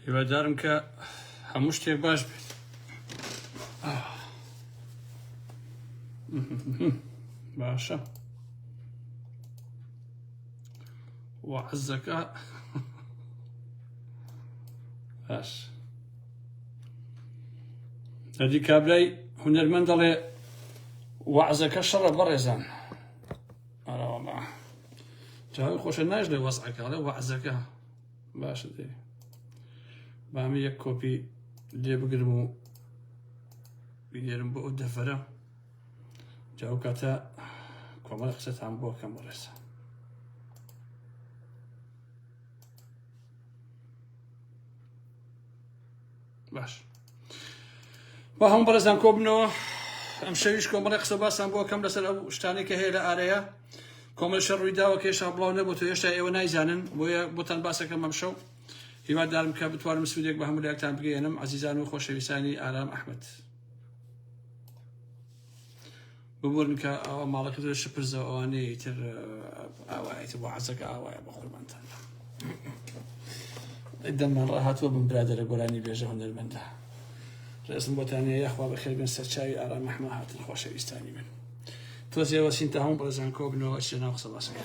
هیوادارم کە هەموو شتێک باش بێت باشە وعزەکە باش ئەدی کابرای هونەرمەند دەڵێ وەعزەکە شەڕە بەڕێزان ئەراڵە جاوی خۆشە ناش لێ وەزعەکە لە وەعزەکە باشە دێ بامی یەک کۆپی لێ بگرم و بینێرم بۆ ئەو دەفەرە جاو کاتە کۆمەڵ قسەتان بۆکەم بەڕێزان باش با هەموو بەڕێزان کۆ بنەوە ئەم شەویش کۆمەڵی قسە باسان بۆ کەم لەسەر ئەو شتانەی کە هەیە لە ئارەیە کۆمەل شەڕ ڕوویداوە کە هێشتا بڵاو نەبوو تو هێشتا ئێوە نایزانن بۆیە بۆتان باسەکەم ئەم شەو هیوادارم کە بتوانم سوودێک بە هەموو لایەکتان بگەێنم عزیزان و خۆشەویستانی ئارام ئەحمد ببورن کە ئەوە ماڵەکە زۆر شپرزە ئەوانەیە ئیتر ئاوایە بۆ عەزەکە ئاوایە بە قوربانتان دەممان ڕاهاتوە بم برادەرە گۆرانی بێژە هونەرمەندە ڕێزم بۆتانە یاخوا بەخێر بن سەرچاوی ئارام مەحمە هاتن خۆشەویستانی من تۆزێ وەسین تا هەموو بەڕێزان کۆبنەوە شێناو قسە باسەکە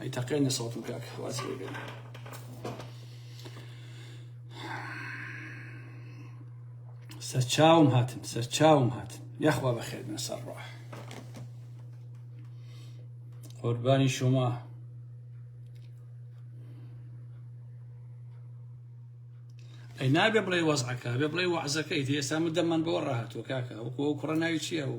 ئەی تەقێنە سەڵتم کاک خواز بێن سەرچاوم هاتن سەرچاوم هاتن یاخوا بەخێبن سەر ڕۆح قوربانی شما ئەی نابێ بڵێ وەزعەکە بێ بڵێ وەعزەکەی ئێستا من دەمان بۆ ڕاهاتوە کاکە وەکو ئەو کوڕە ناوی چییە و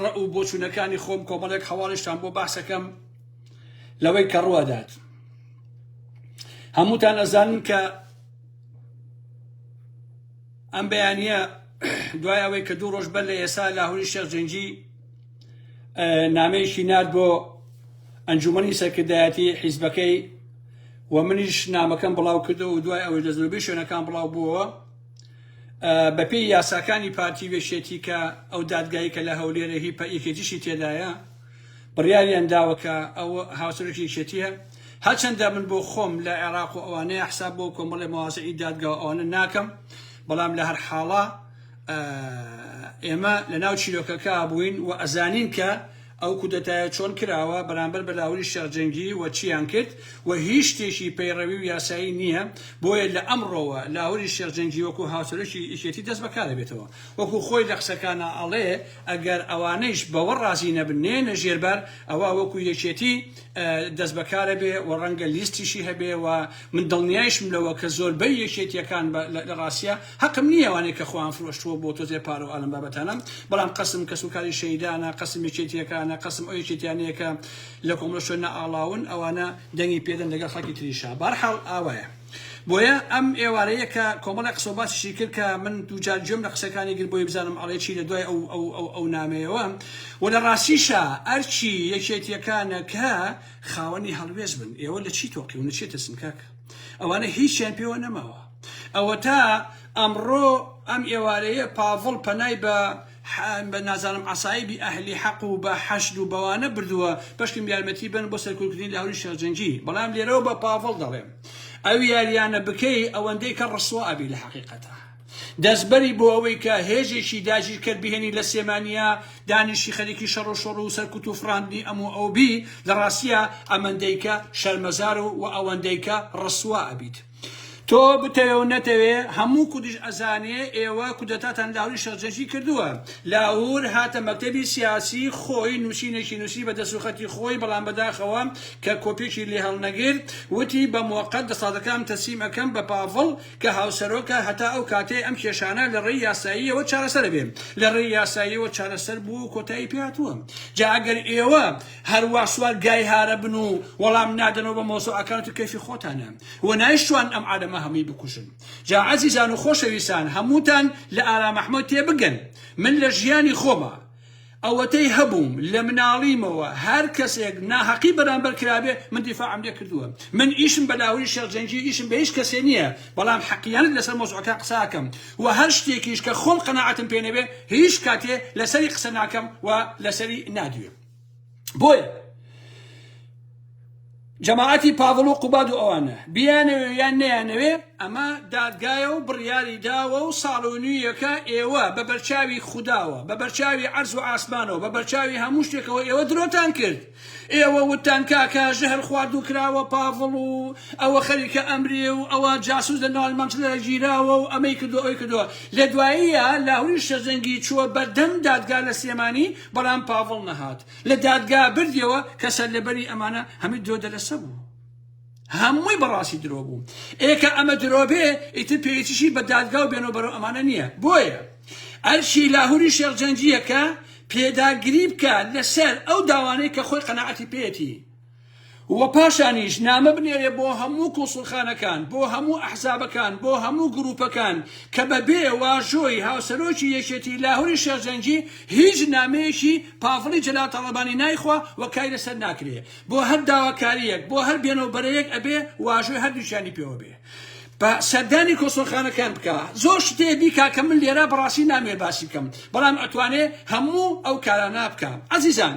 ڕەئ و بۆچوونەکانی خۆم کۆمەڵێک هەواڵیشتان بۆ باسەکەم لەوەی کە ڕووەدات هەمووتان ئەزانن کە ئەم بەیانە دوای ئەوەی کە دوو ڕۆژ بەر لە ئێسا لاهوری شێخ جنجی نامەیەکی نرد بۆ ئەنجومنی سەرکردایەتی حیزبەکەی و منیش نامەکەم بڵاو کردەوە و دوای ئەوەی لە زۆربەی شوێنەکان بڵاو بووەوە بەپێی یاساکانی پارتی و یەکێتی کە ئەو دادگایەی کە لە هەولێرە هی پە یەکێتیشی تێدایە بڕیاریان داوە کە ئەو هاوسەرۆکی یەکێتیە هەرچەندە من بۆ خۆم لە عێراق و ئەوانەیە حساب بۆ کۆمەڵی موازعی دادگا و ئەوانە ناکەم بەڵام لە هەر حاڵە ئێمە لە ناو چیرۆکەکە بووین و ئەزانین کە ئەو کودەتایە چۆن کراوە، بەرامبەر بە لاهوری شێخ جەنگی و چییان کرد و هیچ شتێکی پەیڕەوی و یاسایی نییە، بۆیە لە ئەمڕۆوە لاهوری شێخ جەنگی وەکو هاوسەرۆکی یەکێتی دەست بە کارە بێتەوە. وەکو خۆی لە قسەکانا ئەڵێ ئەگەر ئەوانەیش بەوە ڕازی نەبن نێنە ژێر بار ئەوا وەکو یەکێتی دەست بە کارە بێ و ڕەنگە لیستیشی هەبێ و من دڵنیایشم لەوە کە زۆربەی یەکێتییەکان لە ڕاستیا هەقم نیە ئەوانەی کە خۆیان فرۆشتووە بۆ تۆزێ پارە و ئالەم بابەتانە بەڵام قەسم کەس و کاری شەیدانە قەسم یەکێتیەکانە قەسم ئەو یەکێتیانەیە کە لە کۆمەڵە شوێننا ئاڵاون ئەوانە دەنگی پێدەن لەگەڵ خەڵکی تریشا بەهەرحاڵ ئاوایە بۆیە ئەم ئێوارەیە کە کۆمەڵێ قسە و باسیشی کرد کە من دووجار گوێم لە قسەکانی گرت بۆی بزانم ئەڵێ چی لە دوای ئەو ئەو ئەو ئەو نامەیەوە و لە ڕاستیشا ئەرکی یەکێتیەکانە کە خاوەنی هەڵوێست بن ئێوە لە چی تۆقیون لە چیە ترسن کاکە ئەوانە هیچیان پێوە نەماوە ئەوەتا ئەمڕۆ ئەم ئێوارەیە پاڤڵ پەنای بە بە نازانم عەسایبی ئەهلی حەق و بە حەشد و بەوانە بردووە بەشکم یارمەتی بەن بۆ سەرکوتکردنی لاهوری شێخ جەنگی بەڵام لێرەوە بە پاڤڵ دەڵێم ئەو یاریانە بکەی ئەوەندەی کە ڕسوا ئەبی لە حەقیقەتا دەستبەری بۆ ئەوەی کە هێزێکی داگیرکەر بهێنی لە سێمانیا دانیشی خەریکی شەڕ و شۆڕ و سەرکوت و فڕاندنی ئەم و ئەو بی لە ڕاستیە ئەمەندەیکە شەرمەزار و و ئەوەندەیکە ڕسوا ئەبیت تۆ بتەوێ و نەتەوێ هەموو کوردیش ئەزانێ ئێوە کودەتاتان لاهوری شێخ جەنکی کردووە. لاهور هاتە مەکتەبی سیاسی خۆی نووسینێکی نووسی بە دەست و خەتی خۆی بەڵام بەداخەوە کە کۆپیەکی لێ هەڵنەگرت وتی بە موەقەت دەسەڵاتەکانم تەسلیم ئەکەم بە پاڤڵ کە هاوسەرۆکە هەتا ئەو کاتەی ئەم کێشانە لە ڕێی یاساییەوە چارەسەر ئەبێ لە ڕێی یاساییەوە چارەسەر بووە و کۆتایی پێ هاتووە جا ئەگەر ئێوە هەروا سوار گای هارە بن و وەڵام نادەنەوە بە مەوزوعەکانت و کەیفی خۆتانە و نایشتوان ئەم عالەمە هەمووی بکوژن جا عەزیزان و خۆشەویستان هەمووتان لە ئارام احمد تێبگەن من لە ژیانی خۆما ئەوەتەی هەبووم لە مناڵیمەوە هەر کەسێک ناهەقی بەرامبەر کرابێ من دیفاعم لێ کردووە من ئیشم بە لاهوری شێخ جەنگی ئیشم بە هیچ کەسێ نییە بەڵام حەقیانەت لەسەر مەوزوعەکە قسە ئەکەم و هەر شتێکیش کە خۆم قەناعەتم پێ نەبێ هیچ کاتێ لەسەری قسە ناکەم و لەسەری نادوێم. بۆیە جەماعەتی پاڤڵ و قوباد و ئەوانە بیانەوێ یان نیانەوێ ئەمە دادگایە و بڕیاری داوە و ساڵۆنییەکە ئێوە بە بەرچاوی خودداوە بە بەرچاوی عرز و ئاسمانەوە بە بەرچاوی هەموو شتێکەوە ئێوە درۆتان کرد ئێوە وتان کاکە ژەهر خواردو کراوە پاڤڵ و ئەوە خەریکە ئەمرێ و ئەوە جاسوس لە ناڵ مەنجلە گیراوە و ئەمەی کردو ئەوی کردووە لە دواییە لاهوری شەزەنگی چووە بەردەم دادگا لە سلێمانی بەڵام پاڤڵ نەهات لە دادگا بردیەوە کە سەرلەبەری ئەمانە هەمی درۆ دەلەسە بوو هەمووی بەڕاستی درۆ بوو ئێکە ئەمە درۆ بێ ئیتر پێچشی بە دادگا و بێنەوە بەرەو ئەمانە نییە بۆیە ئەرشی لاهوری شێخجەنجیەکە پێداگری بکە لەسەر ئەو داوانەی کە خۆی قەنەعەتی پێێتی وە پاشانیش نامە بنێرێ بۆ هەموو کونسوڵخانەکان بۆ هەموو ئەحزابەکان بۆ هەموو گروپەکان کە بە بێ واژۆی هاوسەرۆکی یەکێتی لاهوری شێخ جەنگی هیچ نامەیەکی پاڤڵی جەلال تاڵەبانی نایخوا وە کاری لەسەر ناکرێ بۆ هەر داواکاریەک بۆ هەر بێنەو بەرەیەک ئەبێ واژۆی هەردووکیانی پێوە بێ بە سەردانی کونسوڵخانەکان بکا زۆر شتێ بیکا کە من لێرە بەڕاستی نامەوێ باسی بکەم بەڵام ئەتوانێ هەموو ئەو کارانە بکا ئەزیزان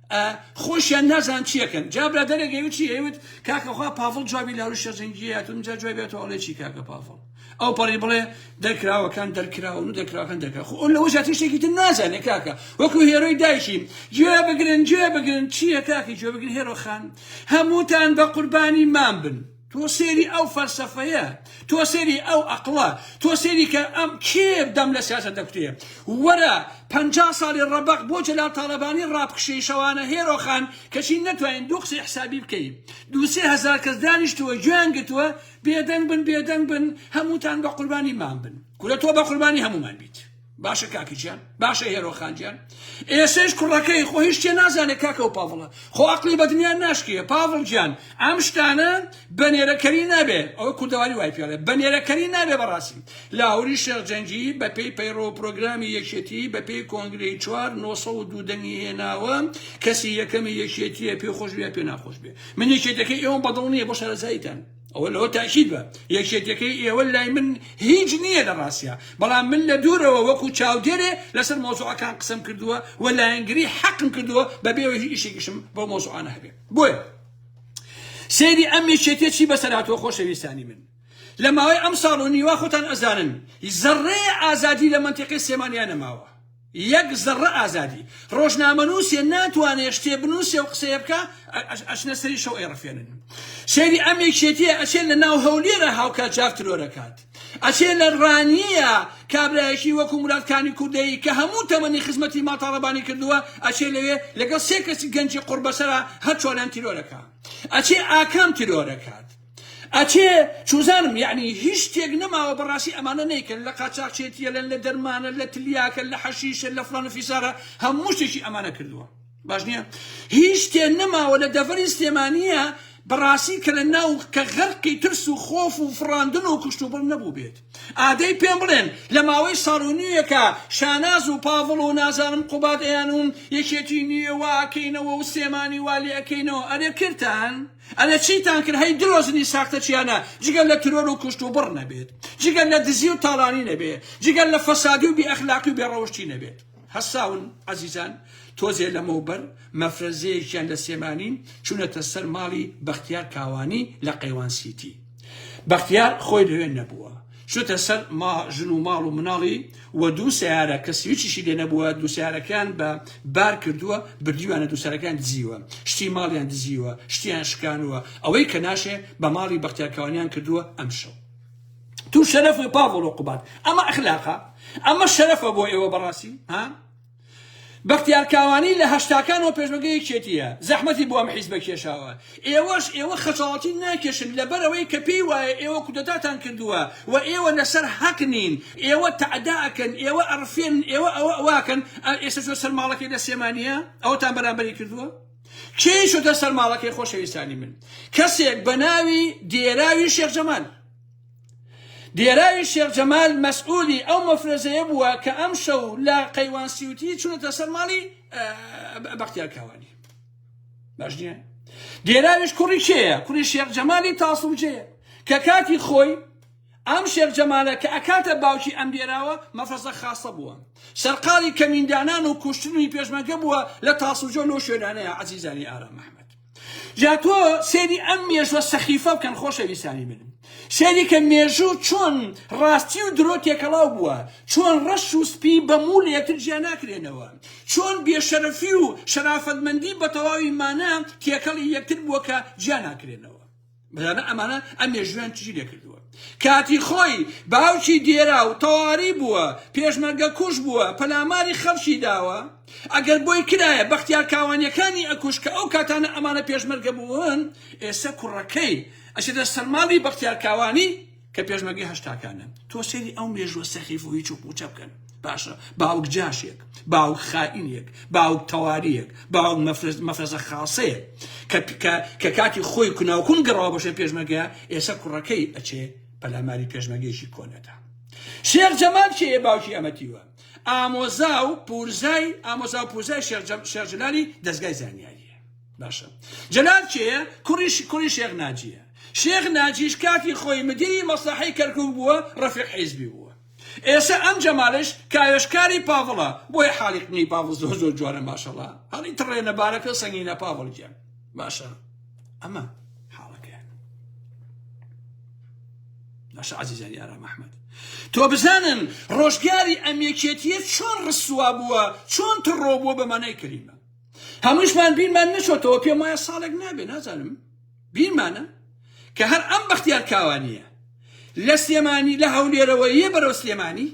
ئا خۆشیان نازان چیەکەن جا برادەرێک ئەیوت چی ئەیوت کاکە خوا پاڤڵ جوابی لە هەروشە جەنگیە یاتون اینجا جوابی هاتو ئەڵێ چی کاکە پاڤڵ ئەو پەڕی بڵێ دەرکراوەکان دەرکراون و دەرکراوەکان دەرکرا خۆ ئەو لەوە زیاتر شتێکی تر نازانێ کاکە وەکو هێرۆی دایکی گوێ بگرن گوێ بگرن چییە کاکی گوێ بگرن هێرۆ خان هەمووتان بە قوربانی مام بن تۆ سەیری ئەو فەلسەفەیە، تۆ سەیری ئەو ئەقڵە، تۆ سەیری کە ئەم کێ دەم لە سیاسەت دەکوتێ. وەرە پەنجا ساڵی ڕەبەق بۆ جەلال تاڵەبانی ڕابکشێی شەوانە هێرۆ خان کەچی نەتوانین دوو قسەی حسابی بکەی. دوو سێ هەزار کەس دانیشتووە گوێیان گرتووە بێدەنگ بن بێدەنگ بن هەمووتان بە قوربانی مام بن. کورە تۆ بە قوربانی هەموومان بیت. باشە کاکە گیان باشە هێرۆ خان گیان ئێسش کوڕەکەی خۆ هیچ شتێ نازانێ کاکە و پاڤڵە خۆ عقلی بە دنیا ناشکێ پاڤڵ گیان ئەم شتانە بە نێرەکەری نابێ ئەوە کوردەواری وای پێڵێ بە نێرەکەری نابێ بەڕاستی لاهوری شێخ جەنگی بە پێی پەیڕۆ و پرۆگرامی یەکێتی بە پێی کۆنگرەی چوار نۆسە و دوو دەنگی هێناوە کەسی یەکەمی یەکێتیە پێ خۆش بێ پێ ناخۆش بێ من یەکێتەکەی ئێوەم بەدڵ نییە بۆ شارەزاییتان ئەوە لەوە تاکید بە یەکێتیەکەی ئێوە لای من هیچ نییە لە ڕاستیا بەڵام من لە دوورەوە وەکو چاودێرێ لەسەر مۆزوعەکان قسم کردووە و لایەنگری حەقم کردووە بە بێوە هیچ ئیشێکیشم بۆ مۆزوعانە هەبێ بۆیە سەیری ئەم یەکێتیە چی بەسەراتەوە خۆشەویستانی من لە ماوەی ئەم ساڵ و نیوە خۆتان ئەزانن زەڕێ ئازادی لە منتیقی سێمانیان نەماوە یەک زەڕە ئازادی ڕۆژنامەنووسێ ناتوانێ شتێ بنووسێ و قسەیە بکا ئەچنە سەری شەو ئەیڕفێنن سەیری ئەم یەکێتیە ئەچێ لە ناو هەولێرە هاوکات جاف ترۆرەکات ئەچێ لە ڕانیە کابرایەکی وەکو مراد کانی کوردەیی کە هەموو تەمەنی خزمەتی ماڵ تاڵەبانی کردووە ئەچێ لەوێ لەگەڵ سێ کەسی گەنجی قوڕبەسەرا هەر چوارەیان تیرۆرەکا ئەچێ ئاکام ترۆرەکات ئەچێ چوزانم یەعنی هیچ شتێک نەماوە بەڕاستی ئەمانە نەیکەن لە قاچاخچێتیە لەن لە دەرمانە لە تلیاکە لە حەشیشە لە فڵان و فیسارە هەموو شتێکی ئەمانە کردووە باش نیە هیچ شتێ نەماوە لە دەڤەری سلێمانیە بەڕاستی کە لە ناو کە غەرقی ترس و خۆف و فڕاندن و کوشتوبڕ نەبوو بێت ئادەی پێم بڵێن لە ماوەی ساڵ و نیوێکە شاناز و پاڤڵ و نازانم قوباد ئەیانوون یەکێتی نیە وا ئەکەینەوە و سلێمانی وا لێ ئەکەینەوە ئەرێ کرتان ئەرێ چیتان کرد هەی درۆزنی ساختە چیانە جگە لە ترۆر و کوشت و بڕ نەبێت جگە لە دزی و تاڵانی نەبێت جگە لە فەسادی و بی ئەخلاقی و بێ ڕەوشتی نەبێت هەساون عەزیزان تۆزێ لەمەوبەر مەفرەزەیەکیان لە سێمانی چونەتە سەر ماڵی بەختیار کاوانی لە قەیوان سیتی بەختیار خۆی لەوێ نەبووە چووتە سەر ما ژن و ماڵ و مناڵی و دوو سیارە کە سویچیشی لێ نەبووە دوو سیارەکەیان بە بار کردووە بردیوانە دوو سیارەکەیان دزیوە شتی ماڵیان دزیوە شتیان شکانووە ئەوەی کە ناشێ بە ماڵی بەختیار کاوانیان کردووە ئەمشەو تو شەرەف پاڤڵ و قوباد ئەمە ئەخلاقە ئەمە شەرەفە بۆ ئێوە بەڕاستی ها بەختیار کاوانی لە هەشتاکانەوە پێشمەرگەی یەکێتییە، زەحمەتی بۆ ئەم حیزبە کێشاوە. ئێوەش ئێوە خەجاڵەتی ناکێشن لەبەر ئەوەی کە پێی وایە ئێوە کودەتاتان کردووە و ئێوە لەسەر حەق نین. ئێوە تەعدا ئەکەن، ئێوە ئەڕفێنن، ئێوە ئەوە ئەوە ئەکەن. ئێستا چووە سەر ماڵەکەی لە سلێمانییە، ئەوەتان بەرامبەری کردووە؟ کێ چووەتە سەر ماڵەکەی خۆشەویستانی من؟ کەسێک بە ناوی دێراوی شێخ جەمال. دێراوی شێخ جەمال مەسئولی ئەو مەفرەزەیە بووە کە ئەم شەو لە قەیوان سیوتی چونەتە سەر ماڵی بەختیار کاوانی باش نیە دێراویش کوڕی کێیە کوڕی شێخ جەمالی تاسڵجەیە کە کاتی خۆی ئەم شێخ جەمالە کە ئەکاتە باوکی ئەم دێراوە مەفرەزە خاصە بووە سەرقاڵی کەمیندانان و کوشتنی پێشمەگە بووە لە تاسڵجۆ لەو شوێنانەیە عزیزانی ئارام محمد جا تۆ سێری ئەم مێژوە سەخیفە بکەن خۆشەویستانی من سێری کە مێژوو چۆن ڕاستی و درۆ تێکەڵاو بووە چۆن ڕەش و سپی بە موو لە یەکتر جیا ناکرێنەوە چۆن بێشەرەفی و شەرافەتمەندی بە تەواوی مانا تێکەڵی یەکتر بووە کە جیا ناکرێنەوە بزانە ئەمانە ئەم مێژویان چی لێکردووە کاتی خۆی باوکی دێرا و تەواری بووە پێشمەرگە کوش بووە پەلاماری خەڵکی داوە ئەگەر بۆی کرایە بەختیار کاوانیەکانی ئەکوش کە ئەو کاتانە ئەمانە پێشمەرگە بوون ئێستا کوڕەکەی ئەچێتە سەرماڵی بەختیار کاوانی کە پێشمەرگەی هەشتاکانن تۆ سەیری ئەو مێژوە سەخیف و هیچ و پوچە بکەن باشە باوک جاشێک باوک خائینێک باوک تەواریەک باوک مەفرەزە خاصەیە کە کە کاتی خۆی کناوکون گەڕاوە بەشێ پێشمەگە ئێسە کوڕەکەی ئەچێ پەلاماری پێشمەگەیشی کۆنەدا شێخ جەمال کێ باوکی ئەمەتیوە ئامۆزا و پورزای ئامۆزا و پورزای شێخ جەلالی دەستگای زانیاری باشە جەلال کێیە؟ کوڕی کوڕی شێخ ناجییە. شێخ ناجیش کاتی خۆی مدیری مەسلەحەی کەرکووک بووە، ڕەفیق حیزبی بووە. ئێسە ئەم جەمالش کاوێشکاری پاڤڵە، بۆیە حاڵی قنی پاڤڵ زۆر زۆر جوانە ماشەڵا. هەڵی تڕێنە بارەکە سەنگینە پاڤڵ گیان. باشە ئەمە حاڵەکەیان. باشە عەزیزانی ئارام ئەحمەد. تۆ بزانن ڕۆژگاری ئەم یەکێتیە چۆن ڕسوا بووە، چۆن تڕۆ بووە بە مانای کەلیمە. هەمووشمان بیرمان نەچۆتەوە پێم وایە ساڵێک نابێ نازانم بیرمانە کە هەر ئەم بەختیار کاوانیە لە سلێمانی لە هەولێرەوە یە بەرەو سلێمانی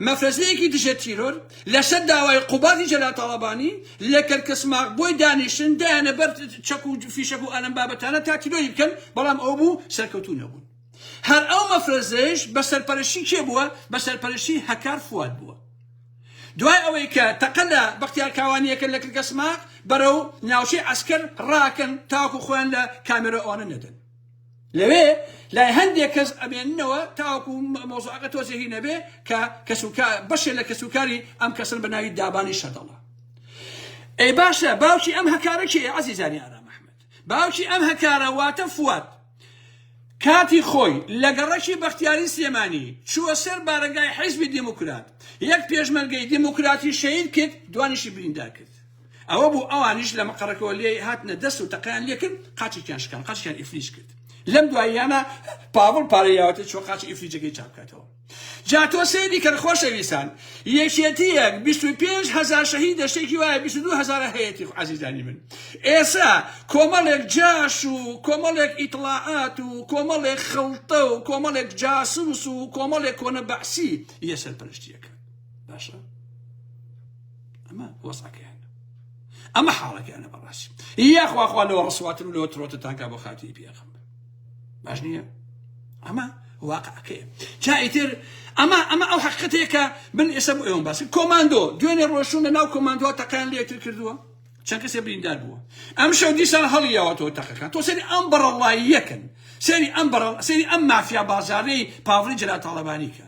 مەفرەزەیەکی دژە تیرۆر لەسەر داوای قوبادی جەلال تاڵەبانی لە کەرکەسماق بۆی دانیشتن دایانە بەر چەک و فیشەک و ئەلەم بابەتانە تا تیرۆری بکەن بەڵام ئەو بوو سەرکەوتوو نەبوون هەر ئەو مەفرەزەیش بە سەرپەرشتی کێ بووە؟ بە سەرپەرشتی هەکار فواد بووە. دوای ئەوەی کە تەقە لە بەختیار کاوانیەکە لە کلکە سماق بەرەو ناوچەی عەسکەر ڕاکەن تاوەکو خۆیان لە کامێرا ئەوانە نەدەن. لەوێ لای هەندێک کەس ئەمێننەوە تاوەکو مەوزوعەکە تۆزێ هی نەبێ کە کەسوکار بەشێ لە کەسوکاری ئەم کەسن بە ناوی دابانی شەدەڵە. ئەی باشە باوکی ئەم هەکارە کێیە؟ عەزیزانی ئارام ئەحمەد باوکی ئەم هەکارە واتە فواد. کاتی خۆی لە گەڕەکی بەختیاری سلێمانی چووە سەر بارەگای حیزبی دیموکرات، یەک پێشمەرگەی دیموکراتی شەهید کرد، دوانیشی بریندار کرد. ئەوە بوو ئەوانیش لە مقەڕەکەوە لێی هاتنە دەست و تەقەیان لێ کرد، قاچێکیان شکاند، قاچێکیان ئیفلیج کرد. لەم دواییانە پاڤڵ پارەی یاوەتێ چووە قاچی ئیفلیجەکەی چاک بکاتەوە. جا تۆ سەیری کەن خۆشەویستان یەکێتیەک بیست و پێنج هەزار شەهیدە شتێکی وایە بیست و دوو هەزارە هەیەتی عەزیزانی من ئێسا کۆمەڵێک جاش و کۆمەڵێک ئیتڵاعات و کۆمەڵێک خەڵتە و کۆمەڵێک جاسوس و کۆمەڵێک کۆنە بەعسی یە سەرپەرشتیەکە باشە ئەمە وەسعەکەیان ئەمە حاڵەکەیانە بەڕاستی یاخواخوا لەوە ڕسواتن و لەوە ترۆتتانکە بۆ خاتی پێخم باش نییە ئەمە واقعەکەی جا ئیتر ئەمە ئەمە ئەو حقیقەتەیە کە من ئێستا بۆ ئێوەم باسی کۆماندۆ دوێنێ ڕۆشتون لە ناو کۆماندۆ تەقیان لە یەکتر کردووە چەند کەسێ بریندار بووە ئەم شەو دیسان هەڵیاوەتەوە تەقەکان تۆ سەری ئەم بەڕەڵاییەکەن سەری ئەم بەڕەڵ سەری ئەم مافیا بازارەی پاڤڵی جەلال تاڵەبانی کە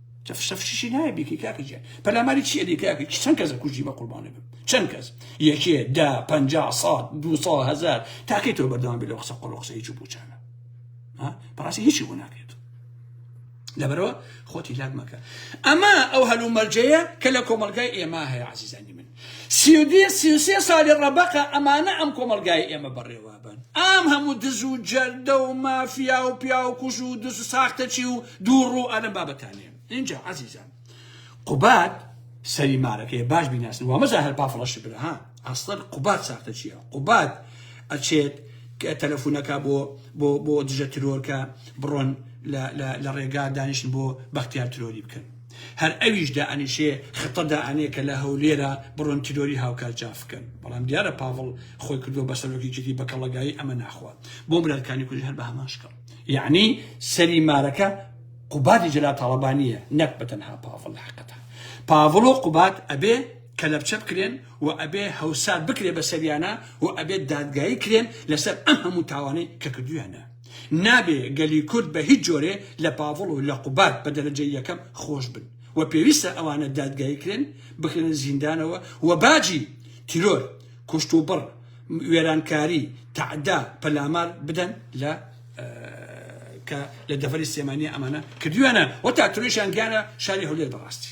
تف شف شیشی نایە بیکەی کاکە گیان پەلاماری چیە دی کاکە کی چەند کەسە کوژی بە قوربانە بم چەند کەس یەکێ دا پەنجا ساڵ دو ساڵ هەزار تاکەی تۆ بەردەوام بێ لە قسە قۆڵ قسە هیچ و پوچانە بەڕاستی هیچی بۆ ناکرێت لەبەرەوە خۆتی لاک مەکە ئەمە ئەو هەلومەرجەیە کە لە کۆمەلگای ئێمە هەیە عزیزانی من سی و دوێ سی و سێ سالی ڕەبەقە ئەمانە ئەم کۆمەڵگای ئێمە بەڕێوابەن ئام هەموو دز و جەردە و مافیا و پیاو کوژ و دز ساختەچی و دوو ڕوو ئەلەم بابەتانێن ئینجا عەزیزان قوباد سەری مارەکەیە باش بیناسن وامەزا هەر بافڵە شبرە ها ئەسڵەن قوباد ساختەچیە قوباد ئەچێت کە تەلەفونەکە بۆ بۆ بۆ دژە ترۆرکە بڕۆن لە لە لە ڕێگا دانیشن بۆ بەختیار ترۆری بکەن هەر ئەویش دائەنیشێ خطە دائەنێ کە لە هەولێرە بڕۆن تیرۆری هاوکار جاف بکەن بەڵام دیارە پاڤڵ خۆی کردووە بە سەرۆکی جدی بە کەڵەگایی ئەمە ناخوا بۆ برادکانی کوردیش هەر بە هەمان شکڵ یەعنی سەری مارەکە قوبادی جەلال تاڵەبانیە نەک بە تەنها پاڤڵ حەقەتە پاڤڵ و قوباد ئەبێ کەلەپچە بکرێن و ئەبێ هەوسار بکرێ بە سەریانا و ئەبێ دادگایی کرێن لەسەر ئەم هەموو تاوانەی کە کردویانە. نابێ گەلی کورد بە هیچ جۆرێ لە پاڤڵ و لە قوباد بە دەرەجەی یەکەم خۆش بن و پێویستە ئەوانە دادگایی کرێن بخرێنە زیندانەوە و باجی تیرۆر، کوشت و بڕ، وێرانکاری، تەعدا، پەلامار بدەن لە کە لە دەڤەری سلێمانیە ئەمانە کردویانە و تا ترۆیشیان گیانە شاری هەولێر بەڕاستی.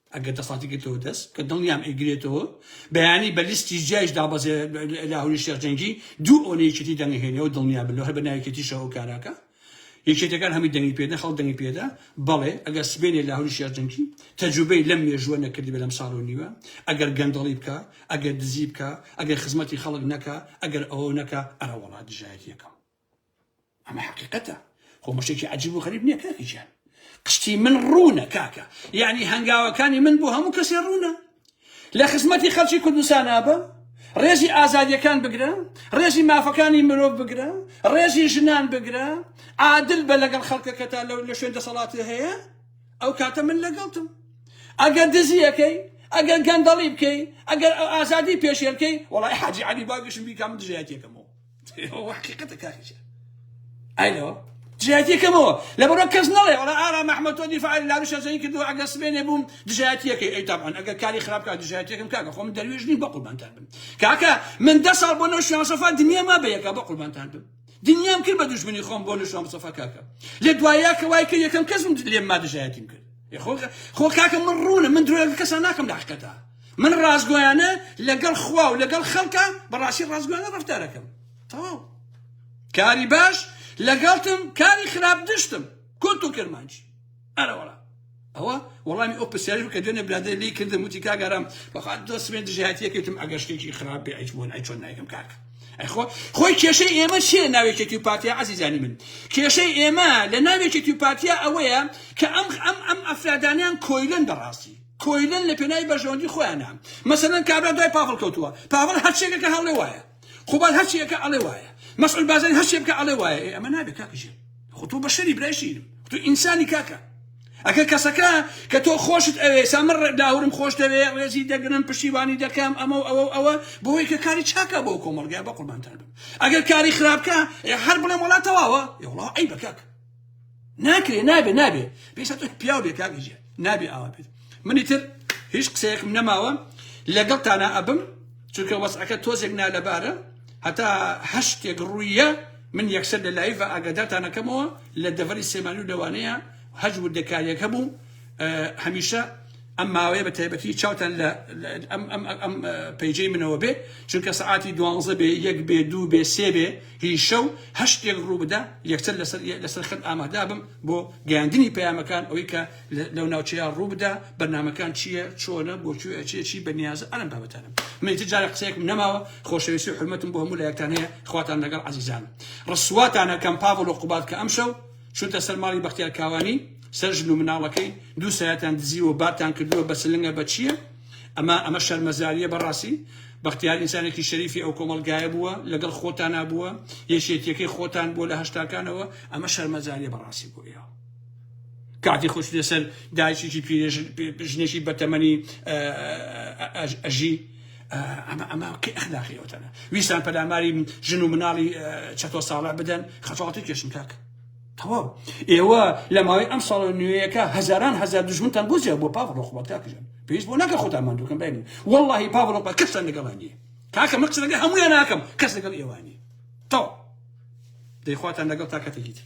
ئەگەر دەسەڵاتی گرتەوە دەست کە دڵنیام ئەیگرێتەوە بەیانی بە لیستی جیایش دابەزێ لاهوری شێخ جەنگی دوو ئەوەنە یەکێتی دەنگهێنەوە دڵنیا بن لەو هەر بە ناویکێتیشەوە ئەو کاراکە یەکێتەکان هەمی دەنگی پێدا خەڵ دەنگی پێدا بەڵێ ئەگەر سبێنێ لاهوری شێخ جەنگی تەجوبەی لەم مێژووە نەکردی بەلەم ساڵ و نیوە ئەگەر گەندەڵی بکە ئەگەر دزی بکە ئەگەر خزمەتی خەڵک نەکە ئەگەر ئەوە نەکە ئەرە وڵات دژایەتیەکەم ئەمە حەقیقەتە خۆ مشتێکی عجیب و غەریب نییە کاکە گیان قشتی من ڕوونە کاکە یعنی هەنگاوەکانی من بۆ هەموو کەسێ ڕوونە لە خزمەتی خەڵکی کوردستان ئابە ڕێزی ئازادیەکان بگرە ڕێزی مافەکانی مرۆڤ بگرە ڕێزی ژنان بگرە عادل بە لەگەڵ خەڵکەکەتا لەو لە شوێن دەسەڵاتی هەیە ئەو کاتە من لەگەڵتم ئەگەر دزیەکەی ئەگەر گەندەڵی بکەی ئەگەر ئازادی پێشێلکەی وڵی حاجی علی باگەشم بیکام دژایەتێکەمەوە ئەوە حقیقەتە کاکی جا ئاینەوە دژایەتیەکەمەوە لە بەرە کەس نڵێ وڵا ئارا مححمد تۆ دیفاعل لارو شەزەی کرد و ئەگە سبێنێ بووم دژایەتیەکەی ئەی تاان ئەگە کاری خراپکە دژایەتەکەم کاکە خۆم دەروێژنی بە قوربانتان بم کاکە من دە ساڵ بۆ نەو شوان سەفا دنیا ما بەیەکە بە قوربانتان بم دنیام کرد بە دوژمنی خۆم بۆ نشوام سەفا کاکە لە دوایە کە وای کرد یەکەم کەسم لێم ما دژایەتیم کرد خۆ کاکە من ڕوونە من درۆ کەسان ناکەم لە حقەتە من ڕاستگۆیانە لەگەڵ خوا و لەگەڵ خەڵکە بەڕاستی ڕاستگۆیانە ڕفتارەکەم تەواو کاری باش لەگەڵتم کاری خراپ دشتم کورت و کرمانج ئەرەوەڵا ئەوە وەڵامی ئەو پرسیارش کە دوێنێ برادێ لی کردم وتی کاگەرام بەخوات دۆستێن دژایەتیەکەتم ئەگەر شتێکی خراپ بێ ئەیچ بۆن ئەی چۆن نایکەم کاکە ئەخۆ خۆی کێشەی ئێمە چیە ناوێکێکی پارتیا عزیزانی من کێشەی ئێمە لە ناوێکێکی پارتیا ئەوەیە کە ئەم ئەم ئەم ئەفرادانیان کۆیلن بەڕاستی کۆیلەن لە پێناوی بەرژەوەندی خۆیانا مەسەلەن کابرا دوای پاڤڵ کەوتووە پاڤڵ هەر شتێکە کە هەڵێ وایە قوباد هەر شتێکە ئەڵێ وایە مەسعود بازاری هەر شتێک بکە ئەڵێ وایە ئێ ئەمە نابێت کاکە ژیر خۆ تۆ بەشەری برای شیرم خۆ تۆ ئینسانی کاکە ئەگەر کەسەکە کە تۆ خۆشت ئەوێ سامر لاهورم خۆش دەوێ ڕێزی دەگرم پشتیوانی دەکەم ئەمە و ئەوە و ئەوە بۆی کە کاری چاکە بۆ کۆمەڵگای بە قوربانتان بم ئەگەر کاری خراپکە هەر بڵێم وڵات تەواوە یوڵا ئەی بەکەک ناکرێ نابێ نابێ پێشتا تۆ پیاو بێ کاک ئیجێ نابێ ئاوا بێت منی تر هیچ قسەیەکم نەماوە لەگەڵ تانا ئەبم چونکە وەسعەکە تۆزێک نالەبارە هەتا هەشتێک ڕوویە من یەکسەر لە لایڤ ئاگادارتانەکەمەوە لە دەڤەری سێمانی و لەوانەیە هەج وردەکاریەک هەبوو هەمیشە ئەم ماوەیە بە تایبەتی چاوتان لە ئەم پەیجەی منەوە بێ چونکە سەعاتی دوانزە بێ یەک بێ دوو بێ سێ بێ هی شەو هەشتێک ڕووبدا یەکسەر لەسەر خەت ئامادابم بۆ گەیاندنی پەیامەکان ئەوەی کە لەو ناوچەیە ڕووبدا بەرنمەکان چییە چۆنە بۆ کوێ ئەچێ چی بەنیازە ئەرم بابەتانم منیتر جارە قسەیەکم نەماوە خۆشەویستی و حرمەتم بۆ هەموو لایەکتان هەیە خواتان لەگەڵ عزیزانم ڕسواتانە کەم پاڤڵ و قوباد کە ئەمشەو چونتە سەر ماڵی بەختیار کاوانی سەر ژن و مناڵەکەی دوو سایەتان دزیوە بارتان کردووە بە سلنگە بە چییە ئەمە ئەمە شەرمەزاریە بەڕاستی بەختیار ئینسانێکی شەریفی ئەو کۆمەلگایە بووە لەگەڵ خۆتانا بووە یەکێتیەکەی خۆتان بووە لە هەشتاکانەوە ئەمە شەرمەزاریە بەڕاستی بۆ ئێوە کاتی خۆش لەسەر دایشێکی ژنێکی بەتەمەنی ئەژی ئەمە ئەمە کە ئەخلاقی ئەوتەنە ویستان پەلاماری ژن و مناڵی چەتۆ ساڵە بدەن خەفاڵتی کێشم کاکە تەواو ئێوە لە ماوەی ئەم ساڵە نوێیەکە هەزاران هەزار دژمنتان بۆ زیاد بۆ پاڤڵۆ خۆبات کاکژان پێویست بۆ ناکە خۆتان ماندووکەن برای من واللهی پاڤڵۆ پا کەستان لەگەڵا نییە کاکە من قسە لەگەڵ هەموویان ناکەم کەس لەگەڵ ئێوە نییە تەواو دەیخواتان لەگەڵ تا کاتێکی تر